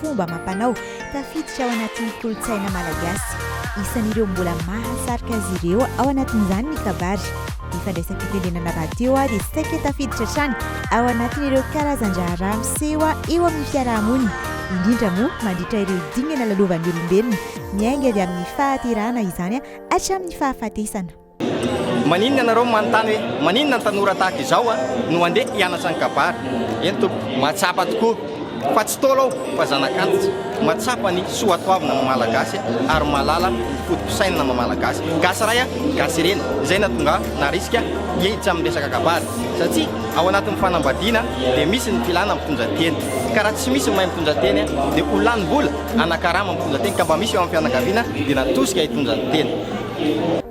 fomba amam-panao tafiditra ao anatin'ny kolontsaina malagasy. Isan'ireo mbola mahasarika azy ireo ao anatin'izany ny kabary. Ny fandraisam-pitenenana rahateo dia saika tafiditra hatrany ao anatin'ireo karazan-draharaha miseho eo amin'ny fiaraha-monina, indrindra moa mandritra ireo dingana lalovan'ny olombelona, miainga avy amin'ny fahaterahana izany hatramin'ny fahafatesana. Maninona ianareo no manontany hoe maninona ny tanora tahaka izao no handeha hianatra ny kabary? Eny tompoko, mahatsapa tokoa fa tsy Ntaolo aho fa zanak'antitra, mahatsapa ny soatoavina maha-malagasy ary mahalala ny foto-pisainana maha-malagasy. Gasy ray a, gasy ireny, izay nahatonga ahy naharisika hihehitra amin'ny resaka kabary satria ao anatin'ny fanambadiana dia misy ny filana mitondra teny ka raha tsy misy ny mahay mitondra teny dia ho lanim-bola, hanakarama ny mitondra teny ka mba misy eo amin'ny fianakaviana dia natosika hitondra ny teny.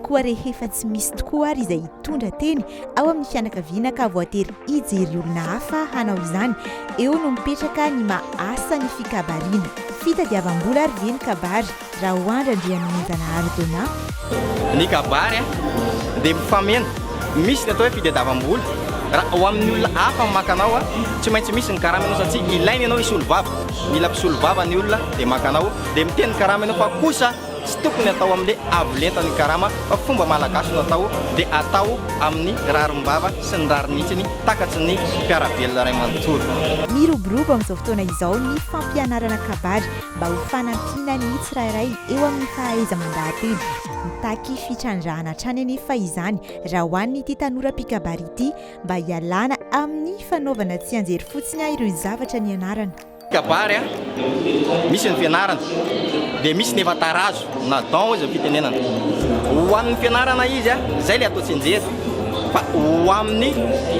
Koa rehefa tsy misy tokoa ary izay hitondra teny ao amin'ny fianakaviana ka voatery hijery olona hafa hanao izany, eo no mipetraka ny maha asa ny fikabariana. Fitadiavam-bola ary ve ny kabary, Raoandry Andrianomenjanahary Donat? Ny kabary dia mifameno, misy ny atao hoe fitadiavam-bola, raha ho amin'ny olona hafa maka anao, tsy maintsy misy ny karama ianao satria ilaina ianao hisolo vava, mila mpisolo vava ny olona dia maka anao, dia miteny karama ianao fa kosa Tsy tokony atao amle avo lenta ny karama fa fomba malagasy no atao de atao aminy rarim-bava sy ny rarinitsiny takatsy ny mpiarabelona ray manontolo. Miroborobo amin'izao fotoana izao ny fampianarana kabary mba ho fanampiana ny tsirairay eo amin'ny fahaiza-mandahateny. Mitaky fitrandrahana hatrany anefa izany raha ho an'ity tanora mpikabary ity mba hialana amin'ny fanaovana tsianjery fotsiny ireo zavatra nianarana. Kabary a, misy ny fianarana, dia misy ny efa tarazo na don hoy izay fitenenana. Ho an'ny fianarana izy a, izay ilay atao tsianjery, fa ho amin'ny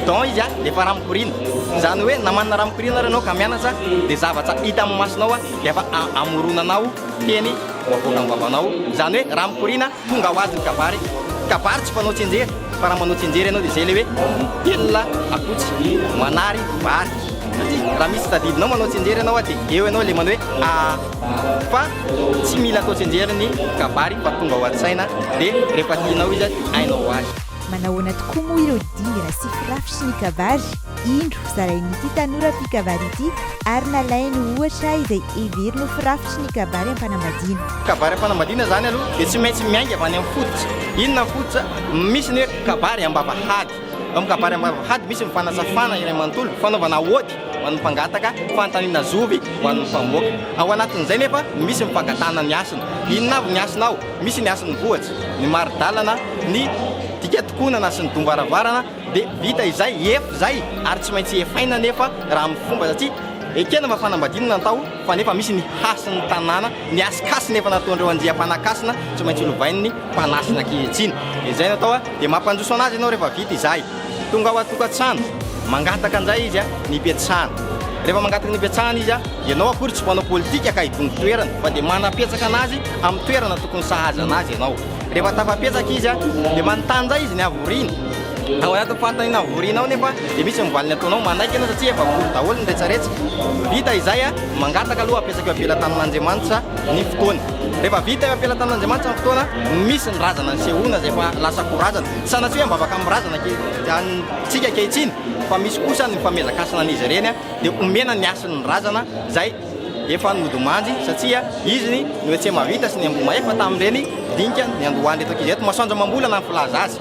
don izy a, dia efa raha mikoriana. Izany hoe na manana raha mikoriana ary ianao ka mianatra, dia zavatra hita amin'ny masonao a, dia efa amoronanao teny ho avoakan'ny vavanao. Izany hoe raha mikoriana. Tonga ho azy ny kabary, kabary tsy mpanao tsinjery fa raha manao tsinjery ianao dia izay ilay hoe mitelina akotsy manary vary satria raha misy tadidinao manao tsinjery ianao dia eo ianao ilay manao hoe a fa tsy mila atao tsinjery ny kabary fa tonga ao an-tsaina dia rehefa tianao izy dia hainao ho azy. Manahoana tokoa moa ireo dingy raha sy firafitry ny kabary? Indro, zarain'ity tanora mpikabary ity ary nalainy ho ohatra izay heveriny ho firafitry ny kabary am-panambadiana. Kabary am-panambadiana izany aloha dia tsy maintsy miainga avy any amin'ny fototra. Inona ny fototra? Misy ny hoe kabary am-bavahady. Ao amin'ny kabary am-bavahady misy ny fanasafana iray manontolo, fanaovana aody ho an'ny mpangataka, fanontaniana zovy ho an'ny mpamoaka. Ao anatin'izay nefa no misy ny fangatahana ny hasina. Inona avy ny hasina ao? Misy ny hasin'ny vohitra, ny mari-dalana, ny dika tokonana sy ny dom-baravarana, Dia vita izay, ef izay, ary tsy maintsy efaina anefa raha amin'ny fomba satria ekena fa fanambadiana natao fa nefa misy ny hasin'ny tanàna, ny hasikasina efa nataondreo andiam-panakasina tsy maintsy lovain'ny mpanasina ankehitriny. Izay natao a! Dia mampanjoso anazy ianao rehefa vita izahy. Tonga ao an-tokantrano, mangataka indray izy a, ny hipetrahana. Rehefa mangataka ny hipetrahana izy a, ianao akory tsy mpanao politika ka hidongy toerana fa dia manapetsaka anazy amin'ny toerana tokony sahaza anazy ianao. Rehefa tafapetraka izy dia manontany indray izy ny havoriany. Ao anatin'ny fanontaniana havoriana ao nefa dia misy ny valiny ataonao, manaiky ianao satria efa vory daholo ny rehetrarehetra. Vita izay, mangataka aloha hapetraka eo am-pela tanin'Andriamanitra ny fotoana. Rehefa vita eo am-pela tanin'Andriamanitra ny fotoana, misy ny razana nisehoana izay efa lasa ho razana. Tsy sanatria hoe mivavaka amin'ny razana antsika ankehitriny fa misy kosa ny famezankasina an'izy ireny dia omena ny hasin'ny razana izay. Efa nody manjy satsia izy ny noetse mavita sy ny amboma efa tam reny dinika niandohan reto ankizy reto masoandro amambolana ny filaza azy.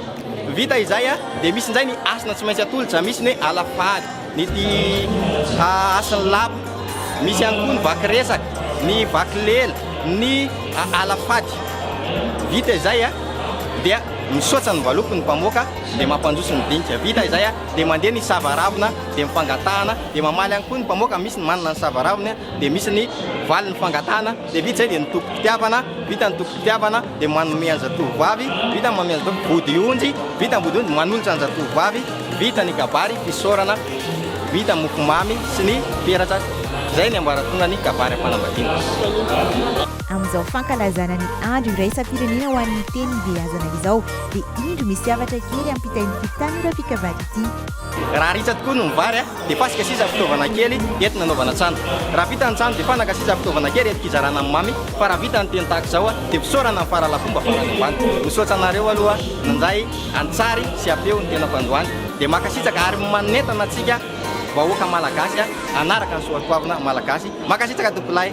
Vita izay a de misy njay ny asina tsy maintsy atolotra misy ny hoe ala faly ny ty ha asiny lapa misy ihany koa ny vaky resaka ny vaky lela ny a ala faty vita izay a dia misoatsa ny valopy ny mpamoaka de mampandroso ny dinika vita izay a. dia mandeha ny sava ravina dia mifangatahana dia mamaly ihany koa ny mpamoaka misy ny manana ny sava ravina dia misy ny valy ny fangatahana dia vita izay dia ny toko pitiavana vita ny toko pitiavana dia manome anjatovo vavy vita ny manome anjatovo body onjy vita ny body onjy manolotra anjatovo vavy vita ny kabary fisaorana vita mofomamy sy ny peratra izay ny ambaratonga ny kabary am-panambadiana Amin'izao fankalazana ny andro iraisam-pirenena ho an'ny teny ibeazana izao dia indro misy zavatra kely ampitain'ity tanora fikavady ity. Raha ritsa tokoa no ny vary a! dia fasika sisa fitaovana kely ety nanaovana tsano. Raha vita ny tsano dia fanaka sisa fitaovana kely ety kizarana ny mamy fa raha vita ny teny tahaka izao a! dia fisaorana ny faharalafomba farany ambany. Misaotra anareo aloha nandray an-tsary sy am-peo ny tenako androany. Dia makasitraka ary manentana antsika vahoaka malagasy a! hanaraka ny soatoavina malagasy. Makasitraka tompolahy.